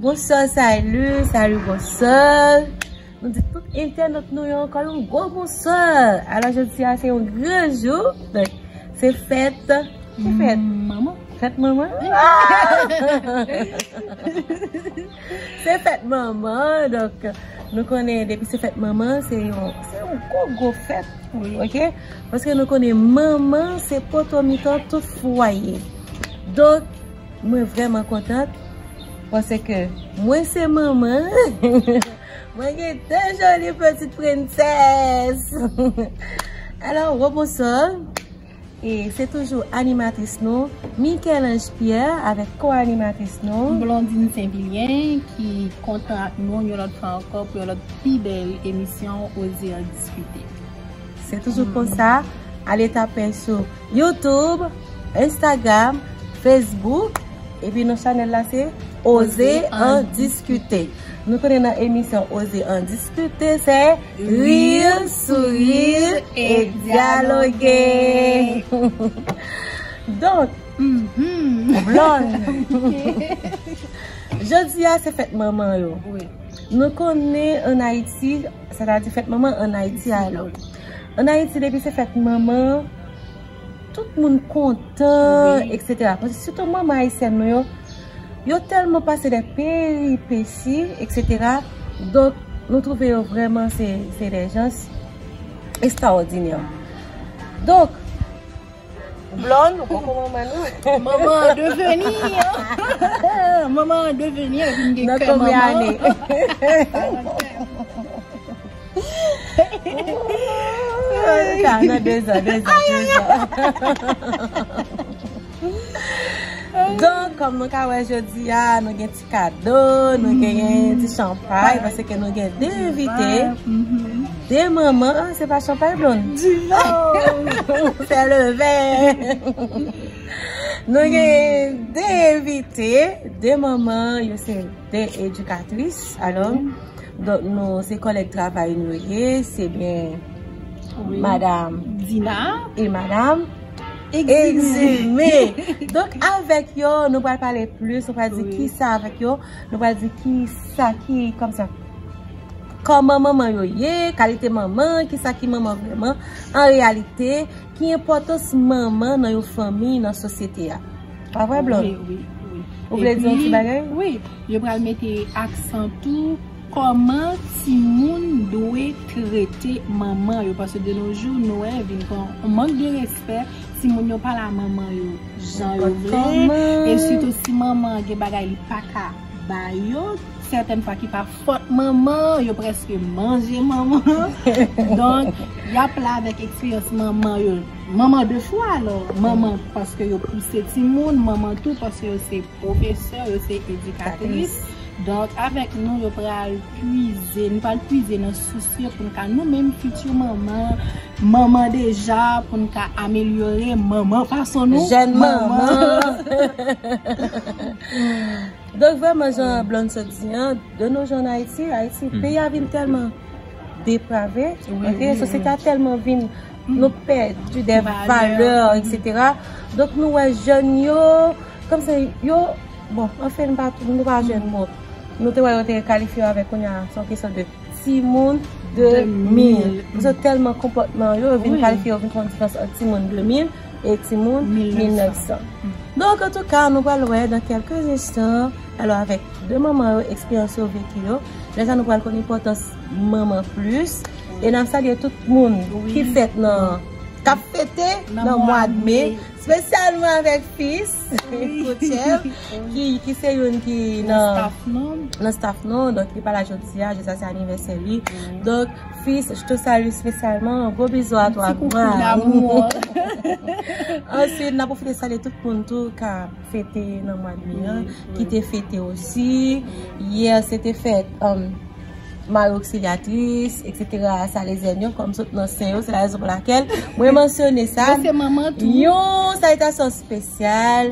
Bonswa salu salu bonswa Nou di tout entènot nou yo ankò yon gwo bonswa Alò jodi a se yon gran jou Donk se fèt Ki fèt? Manman Fèt manman? Se fèt manman donk nou konnen depi se fèt manman se yon se yon gwo gwo fèt pou nou ok paske nou konnen manman se poto mitan tout fwaye donk mwen vrèman kontan pase ke mwen se manman mwen gen de joli pitit prensès alò rebonso. E se toujou animatris nou, Michel-Ange Pierre avèk ko-animatris nou, Blondine St-Vilien ki kontan ak nou yon lòt fwa ankò pou yon lòt pi bèl emisyon Oser en discuter. Se toujou konsa, ale tape sou YouTube, Instagram, Facebook, epi non chanèl la se Oser en discuter. Nou tounen nan emisyon Oser en discuter, se Rire, Sourire et Dialoguer! Donk, Blonde, jodi a se fèt manman yo. Nou konnen an Ayiti, sètadi fèt manman an Ayiti alò. An Ayiti depi se fèt manman, Tout moun kontan etc. Paske sitou manman ayisyèn nou yo, yo tèlman pase dè peripesi etc. Donk nou twouve yo vrèman se dè jans estrawòdinè. Donk. Blond ou poko manman nou. Manman an deveni an. Manman an deveni an vin gen kè manman. Nan konbyen ane. Don, kòm nou ka wè jodi a, nou gen ti kado, nou gen ti chanpay, pase ke nou gen de evite, de manman, se pa chanpay blon? Di nan! Se le vè! Nou gen de evite, de manman, yo se de edukatris, alon, Donk nou se kòlèg travay nou ye, se byen madam Dina e madam Egzime. Donk avèk yo nou pral pale plis, nou pral di ki sa avèk yo, nou pral di ki sa ki kòm sa. Kòman manman yo ye, kalite manman, ki sa ki manman vreman, an reyalite. Ki enpòtans manman nan yon fanmi, nan sosyete a? Pa vre Blonde? Wi, wi, wi. Ou vle di yon ti bagay? Wi. Yo pral mete aksan tou kòman timoun dwe trete manman yo paske de no jou nou wè vin pran yon mank de respè, timoun yo pa la manman yo jan yo vle e sitou si manman gen bagay li pa ka ba yo, sètèn fwa ki pa. Fot manman, yo preske manje manman. Donk, y ap la avèk eksperyans manman yo. Manman de chwa alò. Manman paske yo pouse timoun, manman tou paske yo se pwofesè, yo se edikatris. Donk, avèk nou yo pral pwize, nou pral pwize nan sous yo pou nou ka nou menm fiti manman, manman deja pou nou ka amelyore manman fason nou. Jèn manman. Donk vreman jan Blonde sot di an, de no jan an Ayiti, Ayiti peyi a vin tèlman deprave, ok, sosyete a tèlman vin nou pèdi dè valè etc. Donk nou wè jèn yo, kòm se yo, bon anfen nou pa nou pa jèn bon, nou te wè yo te kalifye yo avèk kounya se yon kesyon de timoun 2000, yo tèlman konpòtman yo, yo vin kalifye yo vin fè yon diferans ant timoun 2000. e timoun 1900. Donk antouka nou pral wè nan kèlke enstan alò avèk 2 manman yo eksperyans yo veki yo lè sa nou pral konn enpòtans manman plis e nap salye tout moun ki fèt nan kap fete nan mwad me spesyalman avèk fis Koutchèp ki se youn ki nan staff nou donk li pala jodia, jodia se anivèsè li donk. Fils je te salue spesyalman gwo bizou a twa answit nan pwofite salye tout moun tou ka fete nan mwa de me an ki te fete osi yè se te fèt mari oksiyatris eksetera sa le zèn yo kòm sot nan sen yo se la rezon pou lakèl mwen mansyone sa yon salitasyon spesyal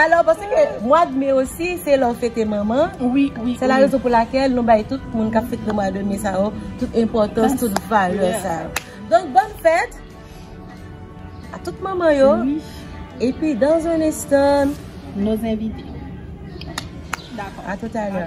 Alò pase ke mwa de me osi se lè ou fete manman, se la rezon pou lakèl nou bay tout moun kap fete mwa de me sa yo, tout enpòtans, tout valè sa yo. Donk bòn fèt a tout manman yo, epi dans un instant, nos envite. Dakò. A toutalè.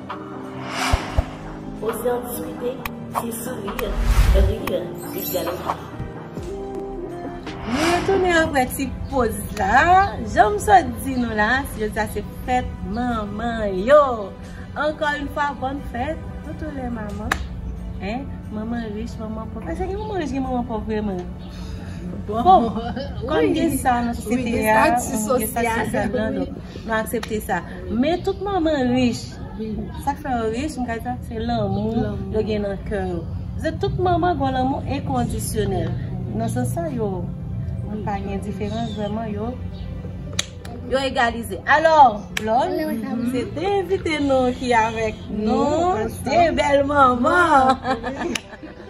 Ose an diskite, se sourire, rire, e dyaloge. Nou retounen apre ti poz la. Janm sot di nou la, jodi a se fèt manman yo. Ankò yn fwa bòn fèt toutou lè manman. Hein manman rich, manman pòv. Asa gen manman rich gen manman pòv vreman? Bon, kòm gen sa nan sosyete a, gen sa nan sosyete a, nou aksepte sa. Men tout manman rich, sak fè yo rich m ka di sa se lanmou yo gen nan kè yo. Paske tout manman gon lanmou enkondisyonèl. Nan sans sa yo pa gen diferans vrèman yo egalize. Alò, lòl, se 2 envite nou ki avèk nou, 2 bèl manman.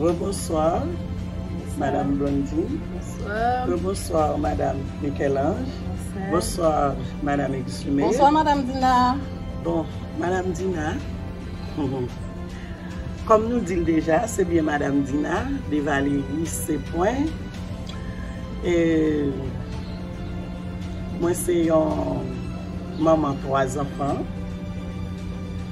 Rebonsoir madame Blondine Rebonsoir madame Michel-Ange Bonsoir madame Exumé Bonsoir madame Dina Bon madame Dina Kòm nou dil deja se byen madame Dina de Valéry se pwen Mwen se yon manman 3 zanfan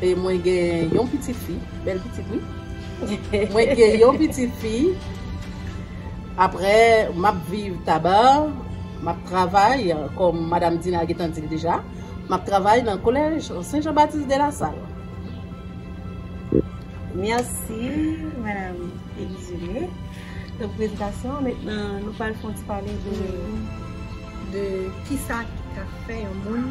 E mwen gen yon pitit fi, bèl pitit wi. Mwen gen yon pitit fi. Aprè map viv Taba, map travay kòm madam Dina gentan dil deja, map travay nan kolèj Sen Jan Batis de la Sal. Mèsi madam Elizene pou prezentasyon an. Mentnan nou pral fon ti pale de kisa ki ka fè yon moun.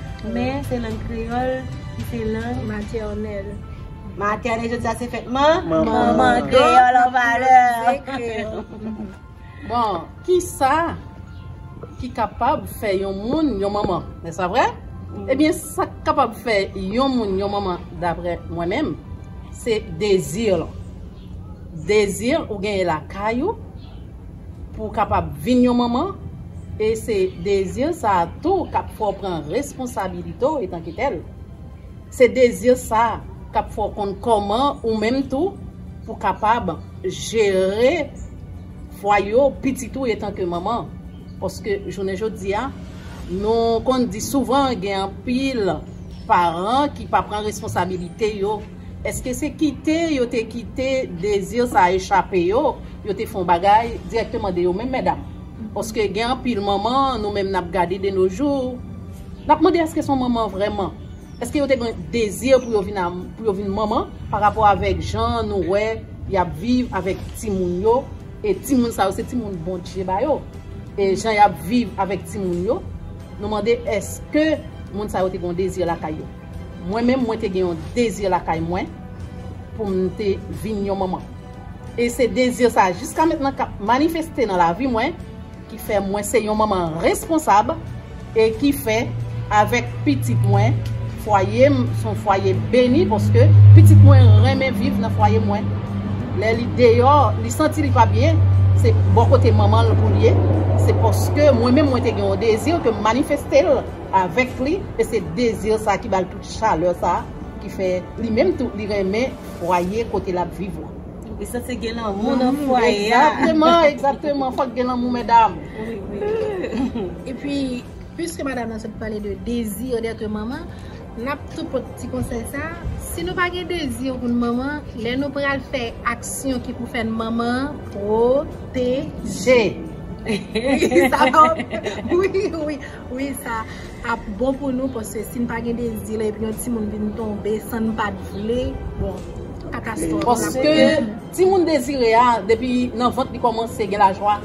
Men, se lang kreyòl ki se lang. Matènèl. Matènèl jodi a se fèt man. Manman. Kreyòl an valè. Bon, ki sa ki kapab fè yon moun yon manman? Nè sa vre? Ebyen, sa k kapab fè yon moun yon manman, dapre mwen menm, se dezi lan. Désir ou genyen lakay ou pou w kapab vin yon manman e se désir sa a tou k ap fè w pran responsabilite w etanke tèl. Se désir sa a k ap fè w konn kòman ou menm tou pou w kapab jere fwaye w, pitit ou etanke manman. Paske jounen jodi a nou konn di souvan gen anpil paran ki pa pran responsabilite yo. Eske se kite yo te kite dezi sa echape yo, yo te fè yon bagay dirèkteman de yo menm medam? Paske gen anpil manman nou menm nap gade de no jou, nap mande eske se yon manman vrèman? Eske yo te gen dezi pou yo vin pou yo vin manman pa rapò avèk jan nou wè yap viv avèk timoun yo e timoun sa yo se timoun Bondye ba yo e jan yap viv avèk timoun yo nou mande eske moun sa yo te gen yon dezi lakay yo? Mwen menm mwen te gen yon dezi lakay mwen pou m te vin yon manman. E se dezi sa a jiska mentnan k ap manifeste nan lavi mwen ki fè mwen se yon manman responsab e ki fè avèk pitit mwen fwaye m s on fwaye beni paske pitit mwen renmen viv nan fwaye mwen. Lè li deyò li santi li pa byen se bò kote manman l pou l ye se paske mwen menm mwen te gen yon dezi ke m manifeste l. avèk li e se dezi sa ki bal tout chalè sa ki fè li menm tou li renmen fwaye kote lap viv la. Wi sa se gen lanmou nan fwaye a. Exactement exactement fòk gen lanmou medam. Wi wi epi pwiske madam nan sot pale de dezi dètre manman nap tou pot ti konsèy sa si nou pa gen dezi pou nou manman lè nou pral fè aksyon ki pou fèn manman pwoteje. Wi wi. Wi sa ap bon pou nou paske si n pa gen dezi la epi yon timoun vin tonbe san n pat vle bon katastwòf la ap fèt. Paske timoun dezire a depi nan vant li kòmanse gen lajwa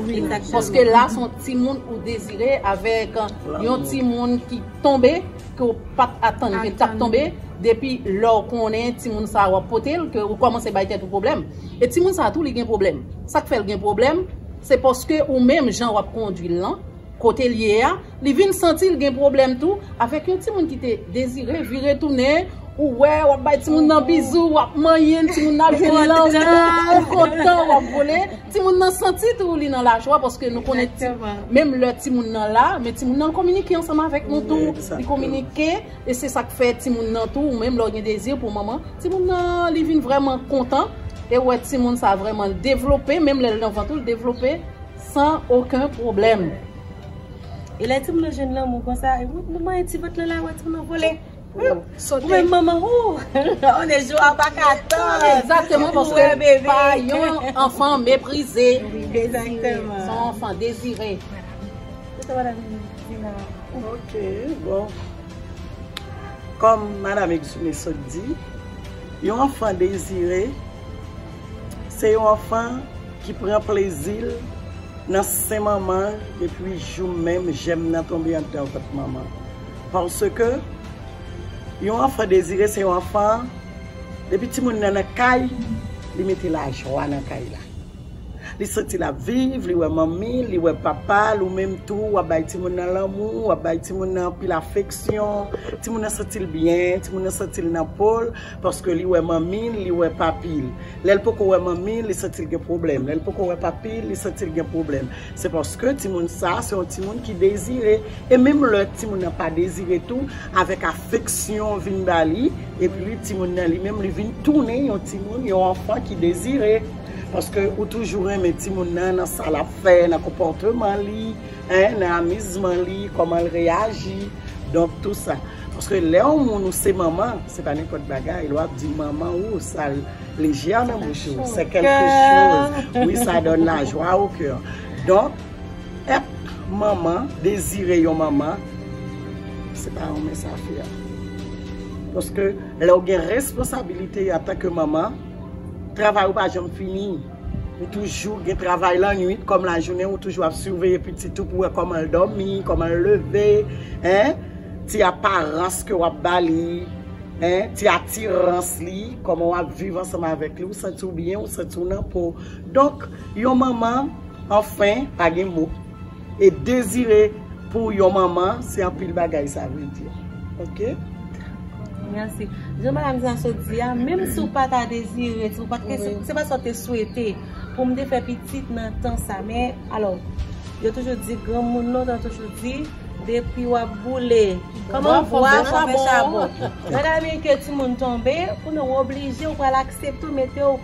paske la se yon timoun ou dezire avèk yon timoun ki tonbe ke w pat atann ke l tap tonbe depi lè w konnen timoun sa wap pote l ke ou kòmanse bay tèt ou pwoblèm e timoun sa tou li gen pwoblèm sak fè l gen pwoblèm se paske ou menm jan wap kondwi l lan Kote l ye a, li vin santi l gen pwoblèm tou avèk yon timoun ki te dezire vire tounen, ou wè, w ap bay timoun nan bizou, w ap manyen l, timoun nan ap jwe lanmou, ou kontan, w ap vole. Timoun nan santi tou li nan lajwa paske nou konnen ti, menm lè timoun nan la, men timoun nan kominike ansanm avèk nou tou, li kominike, e se sa k fè timoun nan tou, menm lè w gen dezi pou manman, timoun nan li vin vrèman kontan, e ou wè timoun sa vrèman l devlope, menm lè l nan vant ou l devlope. San oken pwoblèm. E lè timoun nan jwenn lanmou konsa, woup nou manyen ti vant lan la wè timoun nan vole. Ou menm manman wou! On est jou a pa ka tann! Egzakteman paske l pa yon anfan meprize. Egzakteman. Son anfan dezire. Ki sa madanm di la? Ok, bon. Kòm madanm Exume sot di, yon anfan dezire. Se yon anfan ki pran plezi l nan sen manman l depi jou menm jèm nan tonbe anndan vant manman l. Paske, yon anfan dezire se yon anfan, depi timoun nan nan kay, li mete lajwa nan kay la. Li santi l ap viv, li wè manmi l, li wè papa l, ou menm tou w ap bay timoun nan lanmou, w ap bay timoun nan anpil afeksyon, timoun nan santi l byen, timoun nan santi l nan po l. Paske li wè manmi l, li wè papi l. Lè l poko wè manmi l, li santi l gen pwoblèm. Lè l poko wè papi l, li santi l gen pwoblèm. Se paske timoun sa a, se yon timoun ki dezire. E menm lè timoun nan pa dezire tou, avèk afeksyon vin ba li, epi timoun nan li menm li vin tounen yon timoun, yon anfan ki dezire. Paske ou toujou renmen timoun nan, nan sa l ap fè, nan konpòteman li, nan amizman li, kòman l reyaji. Donk tou sa. Paske lè yon moun ou se manman se pa nenpòt bagay, lè wap di manman ou sa leje a nan bouch ou, se kelke choz wi sa donn la jwa o kè. Donk èt manman, dezire yon manman se pa yon mens afè. Paske lè ou gen responsabilite antanke manman, travay ou pa janm fini. Ou toujou gen travay lannwit kòm lajounen ou toujou ap siveye pitit ou pou wè kòman l dòmi, kòman l leve, hein, ti aparans ke wap ba li, hein, ti atirans li, kòman wap viv ansanm avèk li, ou santi w byen, ou santi w nan po. Donk, yon manman, anfen, pa gen mo. E dezire pou yon manman se anpil bagay sa vle di ok. Merci. Jan madame sa sot di a, menm si w pa ta dezire, si w pa te, se pa sa w te swete pou m te fè pitit nan tan sa men, alò, yo toujou di granmoun nou ta toujou di, depi w ap boule, kòman bwa fò fè chabon. Nan ka men ke timoun tonbe, ou nou oblije, ou pral aksepte ou mete w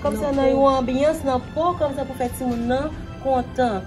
kòm sa nan yon anbyans nan po, kòm sa pou fè timoun nan kontan.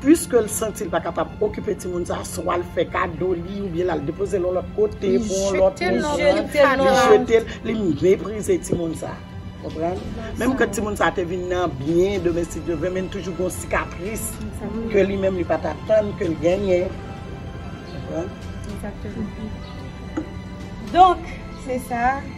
Puiske l santi l pa kapab okipe timoun sa a, swa l fè kado li oubyen l al depoze l yon lòt kote pou yon lòt moun, li jete l, li meprize timoun sa a. Konprann? Menm ke timoun sa a te vin nan byen domestik yo, men li toujou gen yon sikatris ke li menm li pa t atann ke l genyen. Konprann? Donk, se sa.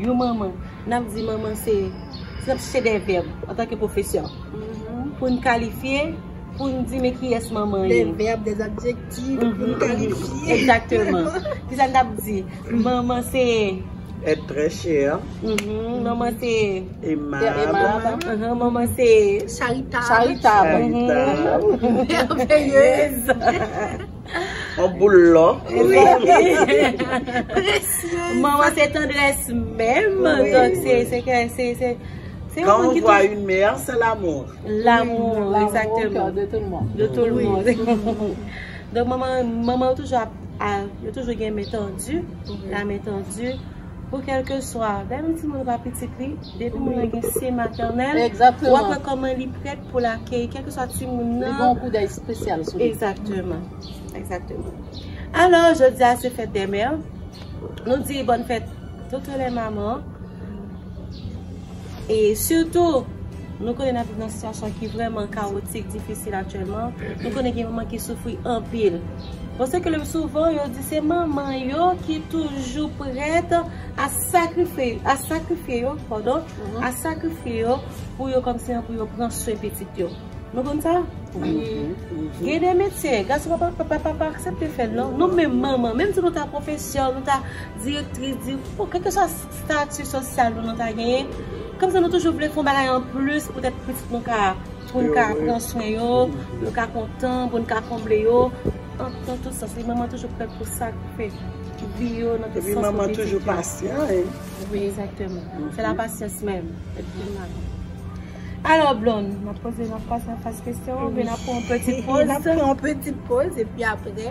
Yon manman, n ap di manman se, n ap chèche de vèb antanke pwofesè pou n kalifye, pou n di men kiyès manman ye. De vèb, de adjektif pou n kalifye. Egzakteman. Kisa n t ap di? Manman se. Èt trè chè. Manman se. Emab. Manman se. Charitab. Charitab. Mèvèye. On boul lò. Manman se tendrès menm. Donk se se ke se se se Kan on vwa yon mè, se lamou. Lamou, ekzakteman. De tout moun. De tout moun. Donk manman manman yo toujou ap yo toujou gen men tandi. La men tandi. Pou kèlkeswa, gade ti moun pa pitit li, depi moun nan gen se matènèl, wap wè kòman li prèt pou l akeyi kèlkeswa ti moun nan. Li gen yon kout dèy espesyal sou li. Ekzakteman, ekzakteman. Alò, jodi a se fèt dè mè, nou di bòn fèt tout lè manman. E sitou, nou konnen n ap viv nan sitiyasyon ki vrèman kawotik, difisil aktyèlman. Nou konnen gen manman ki soufri anpil. Bon, se klè souvan yo di se manman yo ki toujou prèt a sakrifye yo, padon, a sakrifye yo pou yo kòmsi pou yo pran swen pitit yo. Nou konn sa? Wi. Gen de metye, gason pa pa aksepte fè l non. Nou menm manman, menm si nou ta pwofesè, nou ta direktris, di, bon, kèlkeswa. Stati sosyal pou nou ta genyen. Kòmsi nou toujou vle fon bagay an plis pou tèt pitit nou ka, pou nou ka pran swen yo, pou nou ka kontan, pou nou ka konble yo. An tout sans. Epi manman toujou prè pou sa ki fè vi yo nan tout sans. Epi manman toujou pasyan. Wi, egzakteman. Se la pasyans menm. Alò Blond, mwen poze yon fas an fas kesyon, oubyen nan pran yon peti poz. Nan pran yon peti poz, epi apre.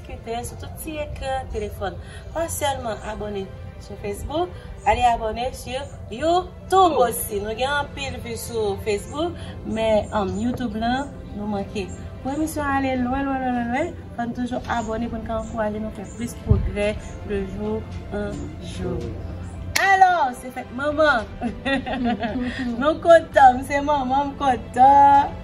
Klike sou tout ti ekran telefòn. Pa sèlman abone sou Facebook, ale abone sou YouTube osi. Nou gen anpil vi sou Facebook, men YouTube la nou manke. Pou emisyon an ale lwen lwen lwen lwen lwen, fò n toujou abone pou n ka ankouraje nou fè plis pwogrè de jou an jou. Alò, se fèt manman! Nou kontan, m se manman, m kontan!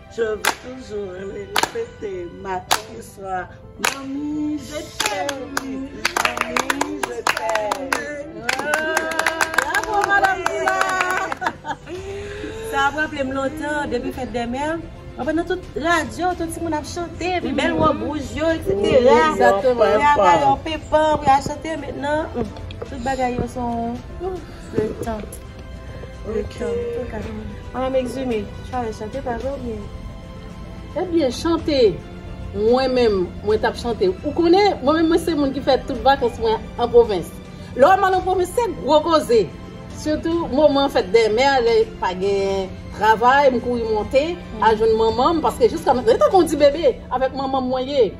Je veux toujours le répéter matin et soir Manmi je t'aime Manmi je t'aime Bravo madame Dina Sa ap raple m lontan depi fèt dè mè Mwen wè nan tout radyo tout timoun ap chante epi bèl wòb wouj yo eksetera Pou y ap bay yon pepan pou y al chante men nan tout bagay yo son Le temps Le temps Ok Madame Exumé Chale chante pa vre ou byen Ou byen chante Mwen menm mwen tap chante Ou konnen mwen menm mwen se moun ki fè tout vakans mwen an pwovens Lè wèm al an pwovens se gwo koze Sitou moman fèt dè mè a lè pa gen travay m kouri monte al jwenn manmanm paske jiska mètnan li tankou yon ti bebe avèk manmanm mwen ye.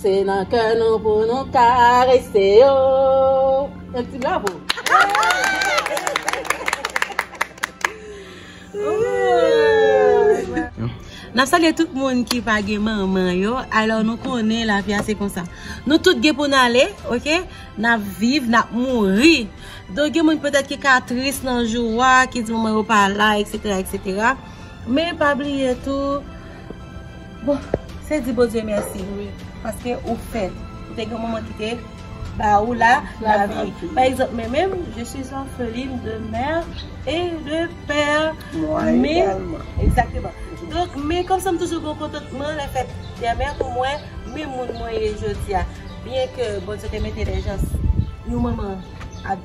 Se nan kè nou pou nou ka rete yo. Yon ti bravo. Nap salye tout moun ki pa gen manman yo Alò nou konnen la vi a se konsa Nou tout gen pou n ale ok Nap viv, nap mouri Donk gen moun petèt ki ka tris nan jou a Ki di manman yo pa la etc etc Men pa bliye tou Bon se di Bondye mèsi wi paske ou fè ou te gen yon manman ki te ba ou la lavi pa egzanp mwen menm je suis orpheline de mère et de père donk men kòm sa m toujou gen kontantman lè fèt dè mè pou mwen men moun mwen ye jodi a byen ke Bondye te mete dè jans yon manman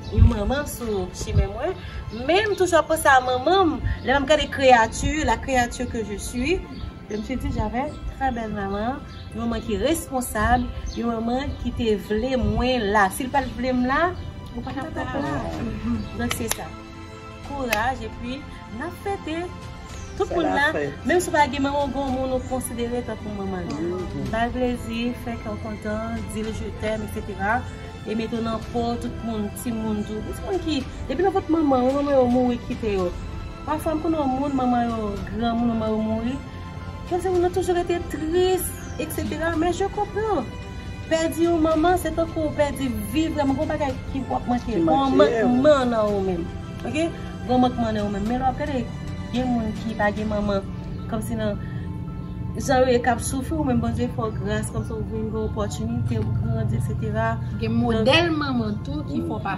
yon manman sou chimen mwen men m toujou ap panse a manman m lè m ap gade kreyati la kreyati ke je suis Yo msye di j'avais une très belle maman, yon manman ki responsab, yon manman ki te vle mwen la. Si l pat vle m la, ou pa tap la. Donk se sa. Kouraj epi nap fete. Tout moun la, menm si w pa gen manman w gen yon moun ou konsidere tankou manman w. Ba l plezi, fè kè w kontan, di l je t'aime etc. E mete w nan po tout moun, timoun tou. Tout moun ki, depi nan vant manman w, manman yo mouri kite yo. Pafwa m konnen yon moun manman yo granmoun manman yo mouri kèm se moun nan toujou rete tris etc men je konpran pèdi yon manman se tankou ou pèdi vi vrèman gon bagay ki wap manke gon mankman nan ou menm ok gon mankman nan ou menm men lè wap gade gen moun ki pa gen manman kòm si nan jan yo ye kap soufri ou menm Bondye fè w gras kòm si ou vin gen opòtinite ou grandi etc gen modèl manman tou ki fè w pa.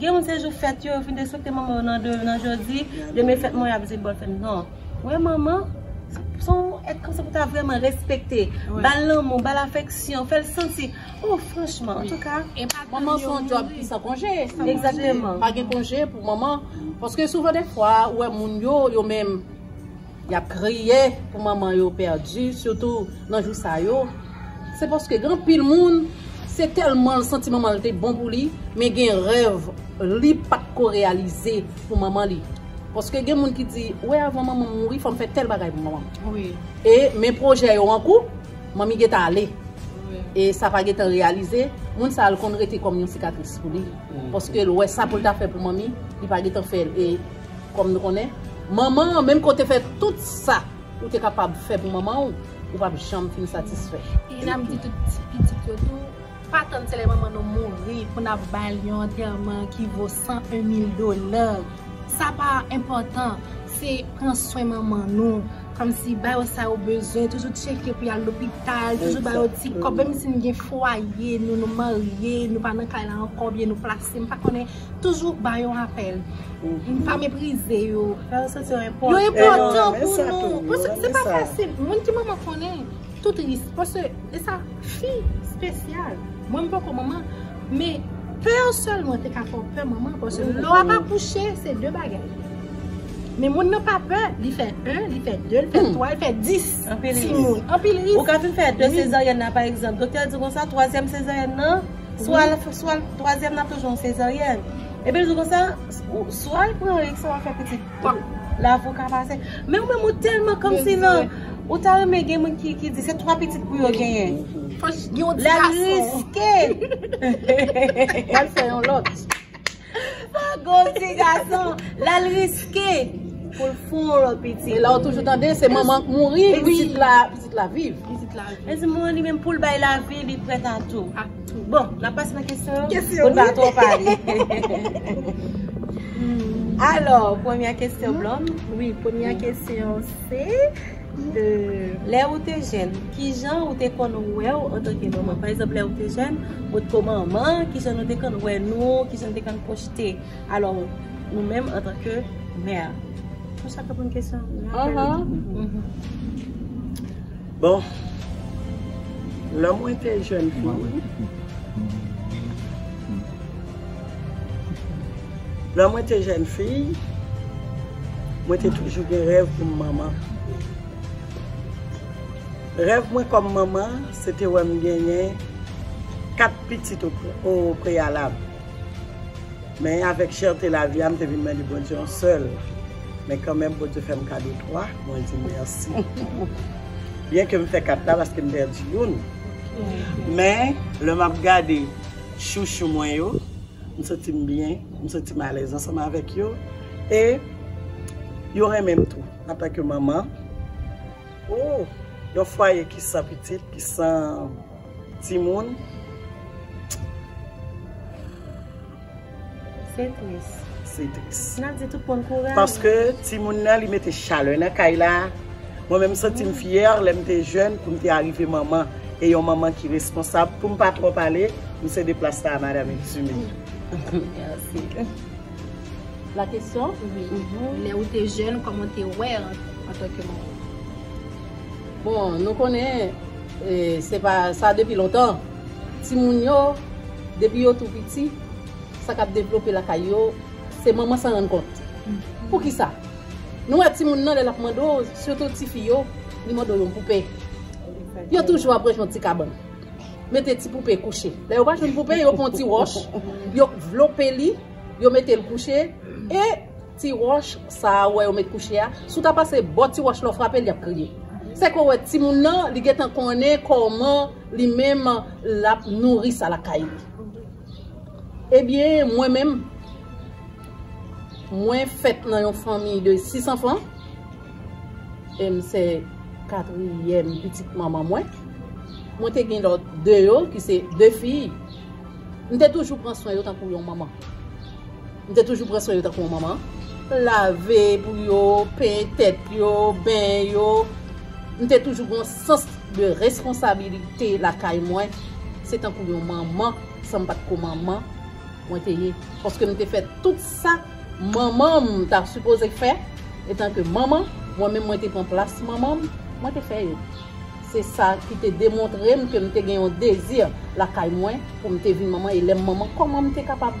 Gen moun se jou fèt yo, yo fin despekte manman yo nan de, nan jodi, demen fèt mwen yap di bòn fèt. Non, wè manman, son èt kòmsi pou ta vrèman respekte, bal lanmou, bal afeksyon, fèl santi, oh franchman, antouka. E pa tann yo mouri. Manman se yon djòb ki san konje. San konje. Egzakteman. Pa gen konje pou manman, paske souvan dèfwa, ou wè moun yo, yo menm. Yap kriye pou manman yo pèdi sitou nan jou sa yo se paske gen anpil moun se tèlman l santi manman l te bon pou li men gen rèv li pat ko reyalize pou manman li paske gen moun ki di wè avan manman m mouri fòm fè tèl bagay pou manman m e men pwojè yo an kou manmi gen ta ale e sa pa gen tan reyalize moun sa l konn rete kòm yon sikatris pou li paske l wè sa pou l ta fè pou manmi li pa gen tan fè l e Kòm nou konnen, manman an, menm ke w te fè tout sa ou te kapab fè pou manman w, ou pap janm fin satisfè. E n ap di tout ti pitit yo tou, pa tann se lè manman nou mouri pou n ap ba l yon antèman ki vo 101 mil dola. Sa pa enpòtan. Se pran swen manman nou, kòmsi ba yo sa yo bezwen, toujou tcheke pou y al lopital, toujou ba yo ti kòb, menm si n gen fwaye nou, nou marye, nou pa nan kay la ankò oubyen nou plase, m pa konnen. Toujou ba yo rapèl. Pa meprize yo. Yo enpòtan pou nou. Paske se pa fasil. Moun ki manman konnen. Tout ris. Paske e sa fi spesyal. Mwen m poko manman. Men pè yo sèlman te ka fè w pè manman. Paske lò ap akouche se de bagay. Men moun nan pa pè. Li fè 1, li fè 2, li fè 3, li fè 10. Anpil ris. Ou ka fin fè 2 sezaryèn nan pa egzanp. Doktè di konsa 3 sezaryèn nan. Swa l fè twazyèm nan ap toujou yon sezaryèn. Epi l di konsa, swa l pran risk wap fè pitit pap la pou w ka pase. Men ou menm ou tèlman kòmsi nan, ou ta renmen gen moun ki di se twa pitit pou yo genyen. Fòk yon ti gason. Lè l riske. Lè l fè yon lòt. Pago ti gason lal riske poul fon lot pitit. Elaw toujou tande se manman k mouri pitit la pitit la viv. Ezi mouri li menm poul bay lavi li prèt a tou. Bon nap pase nan kesyon yo pou n pa twò pale. Alò premyè kesyon blond. Wi premyè kesyon se. Lè ou te jèn, ki jan ou te konn wè ou antanke manman? Pa egzanp, lè ou te jèn, ou te ko manman, ki jan nou te konn wè nou, ki jan nou te konn pwojte alò nou menm antanke mè? Bon, sa reponn kesyon an. Bon, lè mwen te jèn fi. Lè mwen te jèn fi, mwen te toujou gen rèv pou m manman. Rèv mwen kòm manman, se te wè m genyen 4 pitit o preyalab. Men avèk chèrte lavi a, m te vin mande Bondye yon sèl. Men kanmenm Bondye fè m kado 3, mwen di mèsi. Byenke m fè 4 la paske m pèdi youn. Men lè m ap gade. Chouchou mwen yo, m santi m byen, m santi m alèz ansanm avèk yo e yo renmen m tou antanke manman ooh yon fwaye ki san pitit, ki san timoun. Se tris. Se tris. Nap di tout moun kouraj. Paske timoun nan li mete chalè nan kay la. Mwen menm santim fyè lè m te jèn pou m te arive manman. E yon manman ki responsab. Pou m pa twò pale, m sede plas la a Madam Exume. Merci. La kesyon? Wi. Lè ou te jèn, kòman ou te wè an tan ke manman? Bon, nou konnen, se pa sa depi lontan. Timoun yo, depi yo tou piti. Sa k ap devlope lakay yo, se manman san rann kont. Poukisa? Nou wè timoun nan lè l ap mande w, sitou tifi yo, li mande w yon poupe. Yo toujou ap rejwenn ti kabann. Mete ti poupe kouche. Lè yo pa jwenn poupe, yo pran ti wòch, yo vlope li, yo mete l kouche. E ti wòch sa a ou wè yo met kouche a, si w ta pase bò ti wòch la ou frape l, li ap kriye. Se ke w wè timoun nan, li gentan konnen kòman li menm l ap nouri sa lakay li. Ebyen mwen menm mwen fèt nan yon fanmi de 6 anfan e m se katriyèm pitit manman mwen. Mwen te gen lòt 2 yo ki se 2 fi. M te toujou pran swen yo tankou yon manman. M te toujou pran swen yo tankou yon manman. Lave pou yo, penyen tèt yo, benyen yo. M te toujou gen yon sans de responsabilite lakay mwen. Se tankou yon manman, san m pa t ko manman, mwen te ye. Paske m te fè tout sa manman m ta sipoze fè etanke manman, mwen menm mwen te pran plas manman m, mwen te fè yo. Se sa ki te demontre m ke m te gen yon dezi lakay mwen pou m te vin manman e lè m manman kòman m te kapab.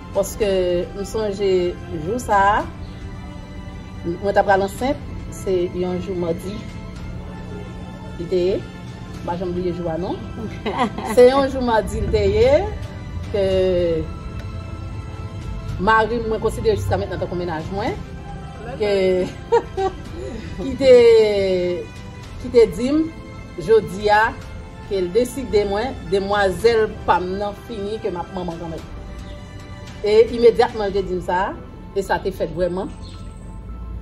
Paske m sonje jou sa a, mwen ta pral ansent, se yon jou madi li te ye, m pa janm bliye jou a non, se yon jou madi li te ye, ke mari m mwen konsidere jiska mentnan tankou mennaj mwen, ke ki te di m, jodi a, Kel deside mwen demwazel pam nan fini ke map manman kanmèm. E imedyatman l te dim sa, e sa te fèt vrèman,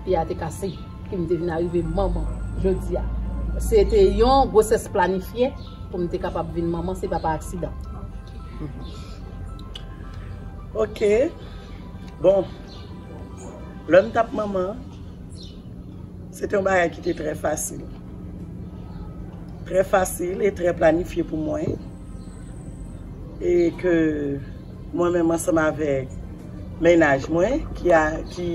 pye a te kase e m te vin arive manman jodi a. Se te yon gwosès planifye pou m te kapab vin manman, se pa pa aksidan. Ok, bon, lè m tap manman. Se te yon bagay ki te trè fasil. Trè fasil e trè planifye pou mwen. E ke mwen menm ansanm avèk mennaj mwen ki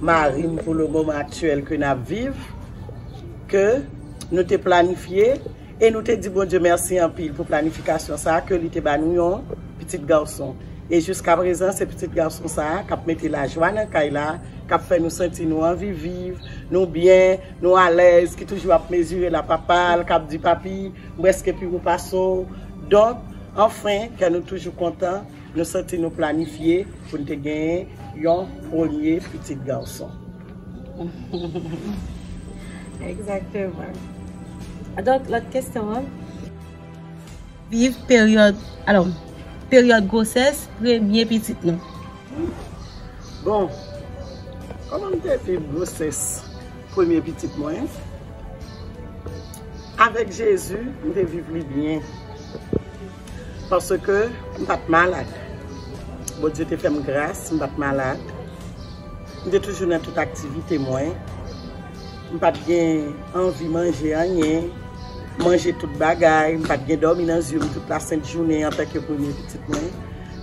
mari m pou le moman aktyèl ke n ap viv, ke nou te planifye. E nou te di Bondye mèsi anpil pou planifikasyon sa a ke li te ba nou yon pitit gason. E jiskaprezan, se pitit gason sa a k ap mete lajwa nan kay la, k ap fè nou santi nou anvi viv, nou byen, nou alèz, ki toujou ap mezire la papa l, k ap di papi, m prèske pi wo pase w. Donk, anfen, kè nou toujou kontan, nou santi nou planifye pou n te genyen yon premye pitit gason. Exactement. Donk lòt kesyon an. Viv peryòd, alò, peryòd gwosès premye pitit nou. Bon, kòman m te viv gwosès premye pitit mwen? Avèk Jezi, m te viv li byen. Paske m pa t malad. Bondye te fè m gras, m pa t malad. M te toujou nan tout aktivite mwen. M pa t gen anvi manje anyen. M manje tout bagay. M pa t gen dòmi nan zye m tout lasent jounen antanke premye pitit mwen.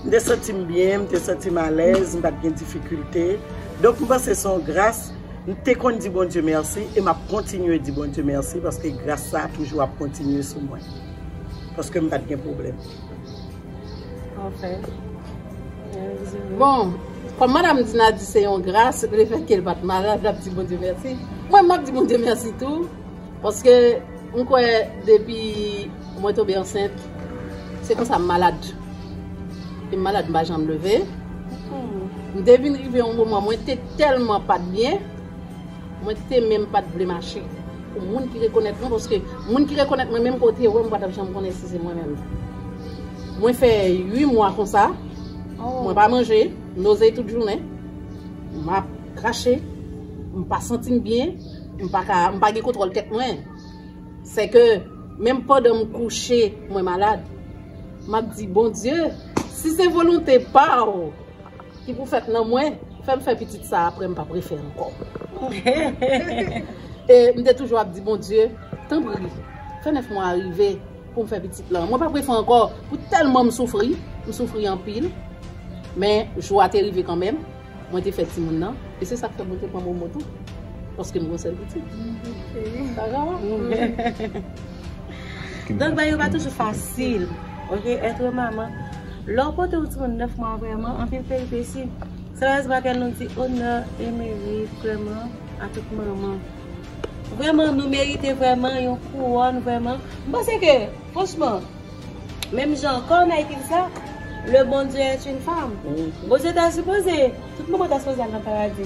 M te santi m byen, m te santi m alèz, m pa t gen difikilte. Donk m panse se yon gras. M te konn di Bondye mèsi e m ap kontinye di Bondye mèsi paske gras sa a toujou ap kontinye sou mwen. Paske m pat gen pwoblèm. Ok. Bon, kòm madam Dina di se yon gras le fèt ke l pat malad l ap di Bondye mèsi. Mwen m ap di Bondye mèsi tou. Paske m kwè depi mwen tonbe ansent se konsa m malad. Lè m malad m pa janm leve. M te vin rive yon moman mwen te tèlman pat byen. Mwen te menm pat vle mache pou moun ki rekonèt mwen paske moun ki rekonèt mwen menm ke w te wè m ou pa tap janm konnen si se mwen menm. Mwen fè 8 mwa konsa, mwen pa manje, m noze tout jounen, m ap krache, m pa santi m byen, m pa ka, m pa gen kontwòl tèt mwen. Sè ke menm pandan m kouche mwen malad, m ap di Bondye si se volonte pa w, Ki pou fèt nan mwen. Fèm fè pitit sa aprè mpap refè ankò. E mte toujou ap di Bondye tanpri fè 9 mwa a rive poum fè pitit lan. Mwen pap refè ankò pou tèlman msoufri. Msoufri anpil men jou a te rive kanmèm. Mwen te fè timoun nan e se sak fè mwen te pran Momo tou paskem gon sèl pitit. Donk bagay yo pa toujou fasil ok etre manman lè w pote yon timoun 9 mwa vrèman anpil peripesi se rès bagay nou di onè e merit vrèman a tout manman vrèman nou merite vrèman yon kouwòn vrèman m panse ke franchman menm jan kò Naytil sa le bon Dieu est une femme bon Dieu ta sipoze tout manman ta sipoze al nan paradi.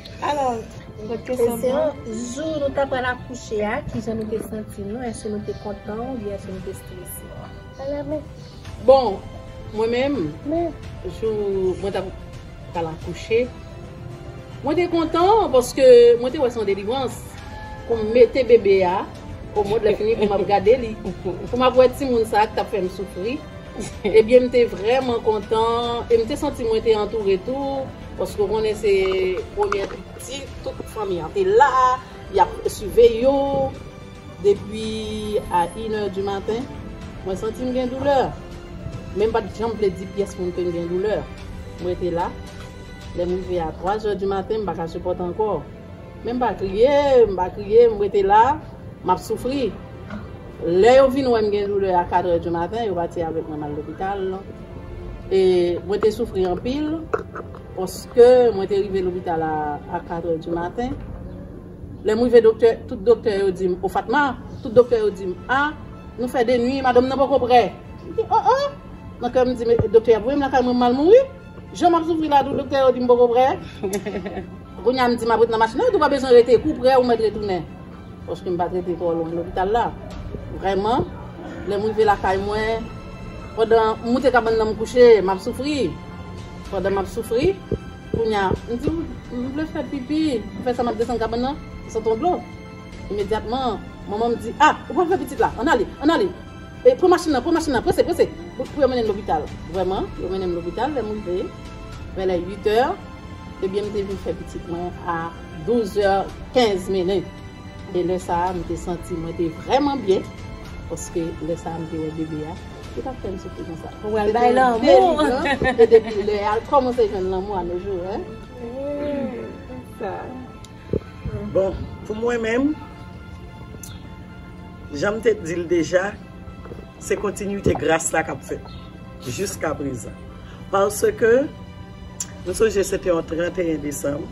Alors, lòt kesyon pou nou. Kesyon, Jou nou ta pral akouche a, ki jan nou te santi nou? Èske nou te kontan ou byen èske nou te strese? Ala men. Bon, mwen menm, jou mwen ta pral akouche, mwen te kontan paske mwen te wè se yon delivrans pou m mete bebe a o mond lè fini pou m ap gade li, pou m ap wè timoun sa a ki t ap fè m soufri. Ebyen m te vrèman kontan e m te santi mwen te antoure tou. Paske ou konnen se premye piti tout fanmi an te la, yap siveye yo depi a inè di maten, mwen santi m gen doulè men m pat janm vle di pyès moun kem gen doulè, m rete la, lèm rive a 3 zè di maten m paka sipòte ankò men m pa kriye m pa kriye m rete la map soufri. Lè yo vin wè m gen doulè a 4 è di maten, yo pati avèk mwen m al lopital. E mwen te soufri anpil paske mwen te rive lopital a 4 è di maten. Lè m rive doktè, tout doktè yo di m, o Fatma, tout doktè yo di m, a, nou fè 2 nwi, madanm nan poko prè. M di, o o! Nan kè m m di, men doktè y ap voye m lakay mwen m mal mouri? Jan m ap soufri la tou doktè yo di m poko prè. Kounye a m di m ap ret nan machin nan, yo di w pa bezwen rete, kou w prè ou mèt retounen. Paske m pat rete twò lwen lopital la. Vrèman, lè m rive lakay mwen, pandan m moute kabann nan m kouche, m ap soufri. Pandan m ap soufri, kounye a, m di m vle fè pipi. M fè sa, m ap desann kabann nan, m santi yon dlo. Imedyatman, manman m di, A! Ou pral fè pitit la! Ann ale! Ann ale! Pran machin nan! Pran machin nan! Prese! Prese! Pou yo mennen m lopital. Vrèman, yo mennen m lopital. Lè m rive, vè lè uitè, ebyen m te vin fè pitit mwen a. 12 zè 15 minit e lè sa a m te santi mwen te vrèman byen paske lè sa a m te wè bebe a ki t ap fè m soufri konsa pou al bay lanmou e depi lè a l kòmanse jwenn lanmou a nojou bon pou mwen menm jan m te di l deja se kontinite gras la k ap fèt jiska prezan paske M sonje se te yon 31 desanm,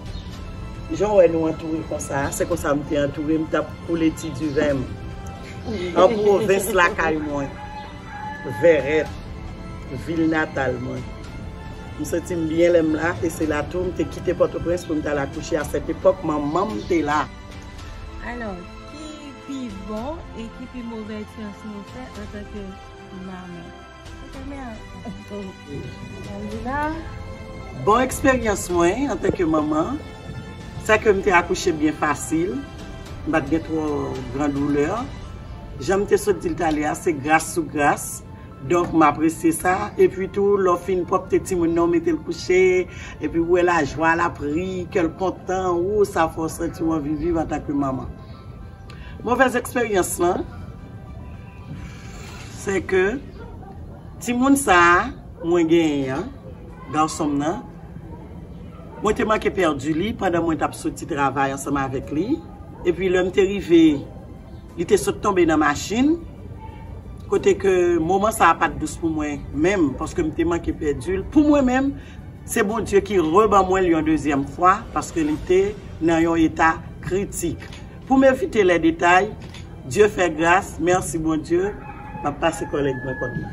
jan w wè nou antoure konsa a, se konsa m te antoure, m t ap koule ti diven m an pwovens lakay mwen, Vèrèt, vil natal mwen. M santi m byen lè m la e se la tou m te kite Pòtoprens pou m t al akouche a sèt epòk manman m te la. Alò, ki pi bon e ki pi move eksperyans nou fè antanke manman? Bon eksperyans mwen antanke manman, sè ke m te akouche byen fasil, m pa t gen twò gran doulè. Jan m te sot di l ta lè a, se gras sou gras. Donk m apresye sa. Epi tou, lè w fin pwòpte timoun nan, w mete l kouche, epi ou wè lajwa l ap ri, kè l kontan, woo sa fè w santi w anvi viv antanke manman. Movèz eksperyans lan se ke timoun sa a mwen genyen an, gason m nan, mwen te manke pèdi li pandan mwen t ap soti travay ansanm avèk li. Epi lè m te rive, li te sot tonbe nan machin. Kote ke moman sa a pa t dous pou mwen menm paske m te manke pèdi l. Pou mwen menm, se Bondye ki reban mwen l yon dezyèm fwa paske li te nan yon eta kritik. Poum evite lè detay, Dye fè gras, merci Bondye, map pase kòlèg mwen kòd la.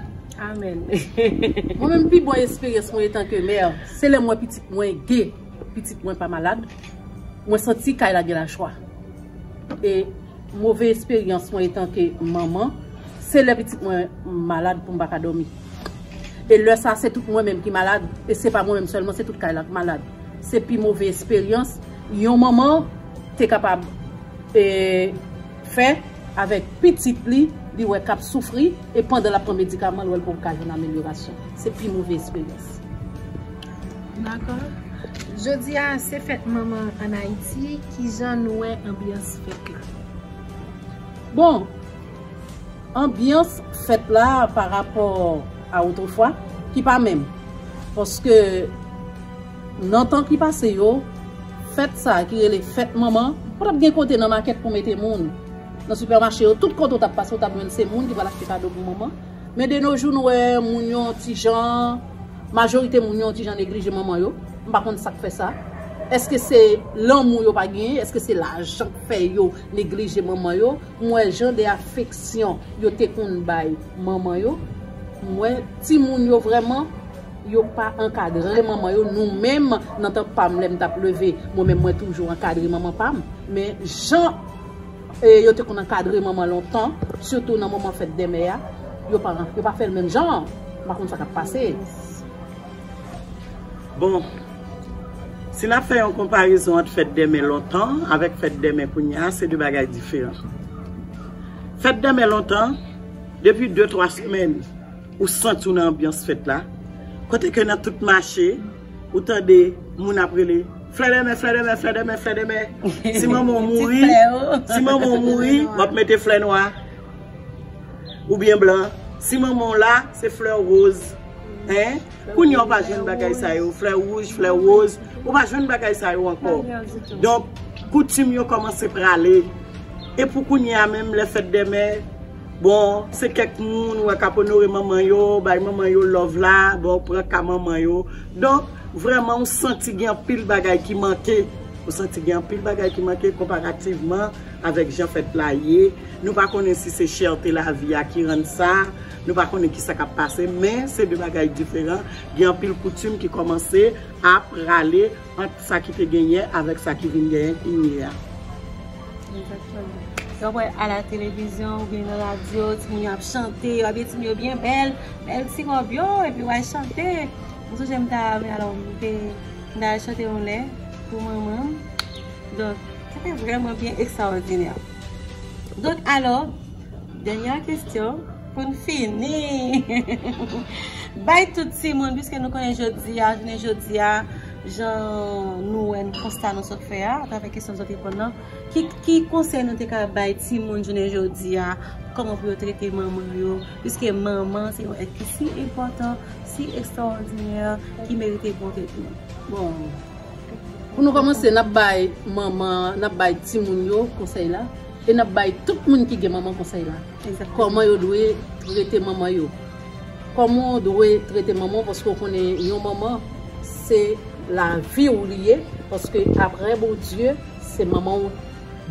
Amen. Mwen menm pi bon esperyans mwen etan ke mè, se lèm wè pitit mwen ge, pitit mwen pa malad, mwen santi kay la gen lajwa. E move esperyans mwen etan ke manman, se lè pitit mwen malad poum pa ka dòmi. E lè sa se tout mwen menm ki malad, e se pa mwen menm sèlman se tout kay la k malad. Se pi move esperyans yon manman. te kapab fè avèk pitit li, li wè kap soufri e pandan lap pran medikaman l wè l poko ka jwenn amelyorasyon. Se pi move esperyans. Dakò. Jodi a se fèt manman an Ayiti, kijan nou wè anbyans fèt la? Bon, anbyans fèt la parapò a otrefwa ki pa menm paske. Nan tan ki pase yo, fèt sa a ki rele fèt manman, pa t ap gen kote nan makèt pou mete moun. Nan sipèmache yo, tout kote ou t ap pase ou t ap jwenn se moun ki pral achte kado pou manman. Men de no jou nou wè moun yo yon ti jan, majorite moun yo yon ti jan neglije manman yo. M pa konn sa k fè sa. Èske se lanmou yo pa genyen? Èske se lajan k fè yo neglije manman yo? M wè jan de afeksyon yo te konn bay manman yo. M wè timoun yo vrèman Yo pa ankadre manman yo nou menm nan tan pam lèm tap leve mwen menm mwen toujou ankadre manman pam men jan yo te konn ankadre manman lontan sitou nan moman fèt dèmè a yo pa fèl menm jan an m pa konn sa kap pase. Bon si nap fè yon konparezon ant fèt dèmè lontan an avèk fèt dèmè kounye a se 2 bagay diferan fèt dèmè lontan depi 2 3 semèn. Ou santi w nan anbyans fèt la, kote ke nan tout mache, ou tande moun ap rele, Flè dè mè, flè dè mè, flè dè mè, flè dè mè. Si manman w mouri, si manman w mouri, w ap mete flè nwa, oubyen blan. Si manman w la, se flè woz. Hein? Kounye a w pa jwenn bagay sa yo, flè wouj, flè woz, ou pa jwenn bagay sa yo ankò. Donk, koutim yo kòmanse prale. E pou kounye a menm, lè fèt dè mè, Bon se kèk moun wè kap onore manman yo, bay manman yo love la, bon pran ka manman yo. Donk vrèman ou santi gen anpil bagay ki manke, ou santi gen anpil bagay ki manke konparativman avèk jan fèt la ye. Nou pa konnen si se chète lavi a ki rann sa, nou pa konnen ki sa kap pase men se de bagay diferan. Gen anpil koutim ki kòmanse ap rale. Ant sa ki te gen yè avèk sa ki vin genyen kounye a. Egzakteman. Lè w wè a la televizyon oubyen nan radyo, timoun yo ap chante, yo abiye timoun yo byen bèl, bèl ti wòb yo, epi yo al chante. M sonje m ta al, alò m te, m ta al chante yon lè pou manman m. Donk, sa te vrèman byen ekstraòdinè. Donk, alò, dènyè kestyon. Pou n fini, bay tout timoun, piske nou konnen jodi a, jounen jodi a, jan nou wè n, konsta nou sot fè a, atravè kesyon nou sot reponn nan, ki konsèy nou te ka bay timoun jounen jodi a, kòman pou yo trete manman yo, piske manman se yon èt ki si enpòtan, si ekstraòdinè, ki merite bonte nou. Bon, pou nou kòmanse, n ap bay manman, n ap bay timoun yo konsèy la, e n ap bay tout moun ki gen manman konsèy la. Kòman yo dwe trete manman yo. Kòman w dwe trete manman w paske w konnen yon manman se lavi w li ye paske aprè Bondye se manman w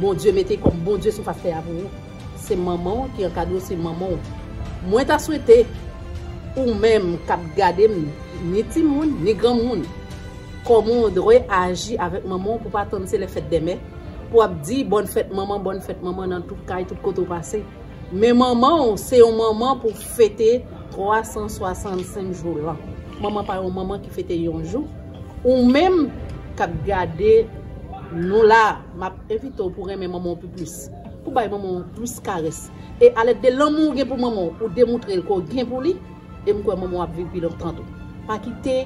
Bondye mete kòm Bondye sou fas tè a pou ou. Se manman w ki ankadre w se manman w. Mwen ta swete ou menm k ap gade m ni timoun ni granmoun kòman w dwe aji avèk manman w pou w pa tann se lè fèt dèmen. pou ap di bòn fèt manman, bòn fèt manman nan tout kay, tout kote ou pase. Men manman ou se yon manman pou fete 365 jou lan. Manman pa yon manman ki fete yon jou. Ou menm k ap gade nou la, m ap envite ou pou renmen manman ou pi plis. Pou bay manman ou plis karès. E alèd de lanmou ou gen pou manman ou, ou demoutre l ke ou gen pou li. E m kwè manman w ap viv pi lontan tou. Pa kite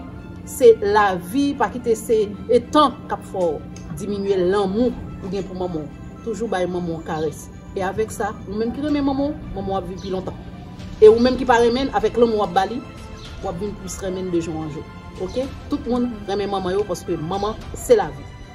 se lavi, pa kite se etan k ap fè w diminye lanmou ou gen pou manman w. Toujou bay manman w karès. E avèk sa, ou menm ki renmen manman w, manman w ap viv pi lontan. E ou menm ki pa renmen l, avèk lanmou w ap ba li, w ap vin plis renmen l de jou an jou. Ok? Tout moun renmen manman yo paske manman se lavi.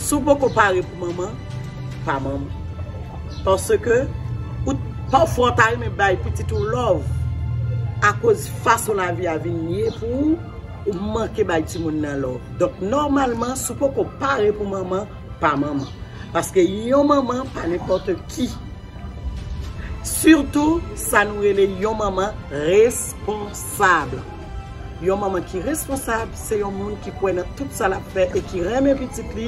Si w poko pare pou manman, pa manman. Paske, pafwa ou ta renmen bay pitit ou lòv, akoz fason lavi a vin ye pou ou, ou manke bay timoun nan lòv. Donk, nòmalman, si w poko pare pou manman, pa manman. Paske, yon manman pa nenpòte ki. Sitou, sa nou rele yon manman responsab. Yon manman ki responsab se yon moun ki kwè nan tout sa lap fè e ki renmen pitit li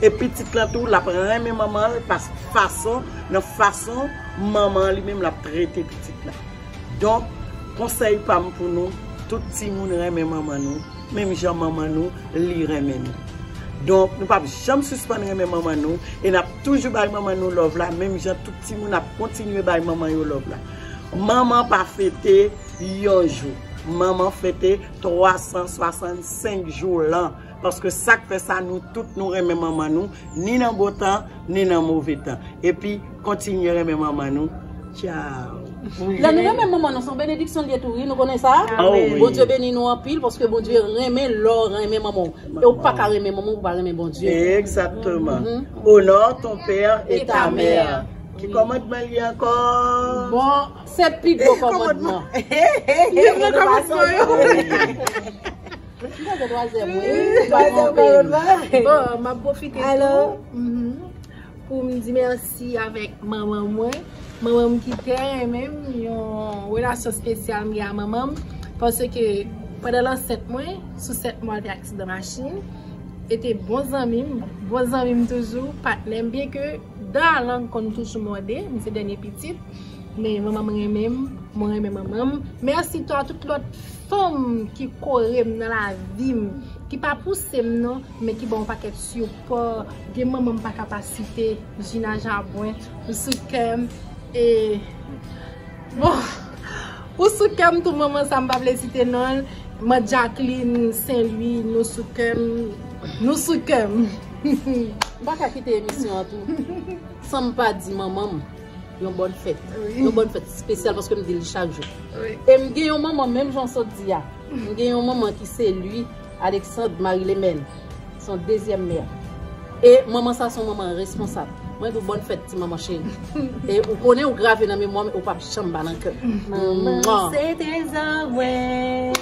e pitit lan tou lap renmen manmanl pask fason nan fason manman an li menm lap trete pitit la donk konsèy pam pou nou tout timoun renmen manman nou menm jan manman nou li renmen nou donk nou pap janm sispann renmen manman nou e nap toujou bay manman nou love la menm jan tout timoun ap kontinye bay manman yo love la manman pa fete. Yon jou, manman fete 365 jou lan, paske sak fè sa nou tout nou renmen manman nou, ni nan bon tan, ni nan move tan. Epi, kontinye renmen manman nou. Tchao. Lè nou renmen manman nou se yon benediksyon li ye tou wi nou konnen sa Bondye beni nou anpil paske Bondye renmen lè w renmen manman w e ou pa ka renmen manman w pou pa renmen Bondye Egzakteman Onore ton père et ta mère Ki kòmandman li ankò? Se pi gwo komodman. Pi gwo komodman yo. Mwen se twazèm mwen. Mwen se twazèm mwen. Bon, m ap pwofite tou. Pou m di mèsi avèk manman mwen. Manman m ki tè renmen m. Yon relasyon spesyal m gen a manman m. Pase ke pandan lansèt mwen, sou 7 mwa te aksidan machin. E te bon zanmi m. Bon zanmi m toujou. Patnè m. Byen ke dan alang konn toujou mòde. M se dènye pitit. Men manmanm renmenm, mwen renmen manmanm. Merci to a tout lot fanm ki korem nan lavim, ki pa pousem non, men ki banm yon paket sipò. Gen manman m paka pa site, Gina Jabouin, ou sou kèm e bon ou sou kèm tou manman sa m pa vle site non l, man Jacqueline Saint Louis nou sou kèm, nou sou kèm. M paka kite emisyon an tou sanm pa di manmanm. Yon bòn fèt. Yon bòn fèt spesyal paske m dil chak jou. E m gen yon manman menm jan w sot di a. M gen yon manman ki se li Alexandre Marie Lemène. Son dezyèm mè. E manman sa son manman responsab. Mwen di w bòn fèt ti manman cheri. E ou konnen ou grave nan memwa m e ou pap janm ba nan kè m. Manman se trezò mwen.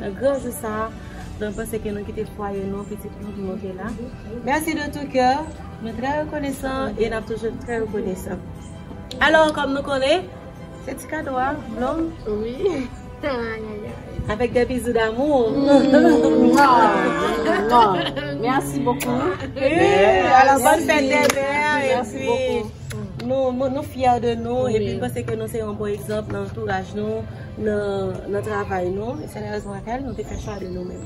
Nan gran jou sa a, nou panse ke nou kite fwaye nou, pitit nou ki mouri la. Mèsi de tou kè, nou trè rekonesan e n ap toujou trè rekonesan. Alò, kòm nou konnen, se ti kado a, blom? Wi. Avèk de bizou damou. Mèsi bokou. Alò, bòn fèt dè mè a, e pi nou fyè de nou, e pi nou panse ke nou se yon bon egzanp nan antouraj nou. Nan travay nou, se la rezon lakay nou te fè chwa de nou menm.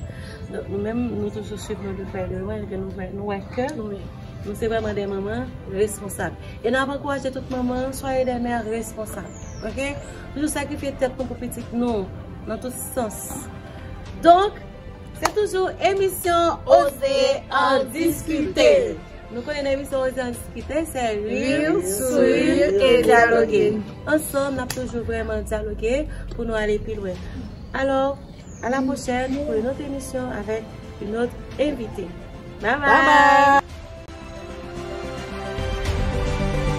Donk nou menm nou toujou swiv nou de prè de lwen, ke nou wè ke nou menm, nou se vreman de manman responsab. E nou ap ankouraje tout manman, soye de mè responsab. Ok? Toujou sakrifye tèt nou pou pitit nou, nan tout sans. Donk, se toujou emisyon Oze Andiskite! Nou konnen nan emisyon Oze an Diskite se rir, sourire et dialoguer. Ansanm nap toujou vreman dyaloge pou nou ale pi lwen. Alò, a la pwochèn pou yon lòt emisyon avèk yon lòt envite. Bye bye!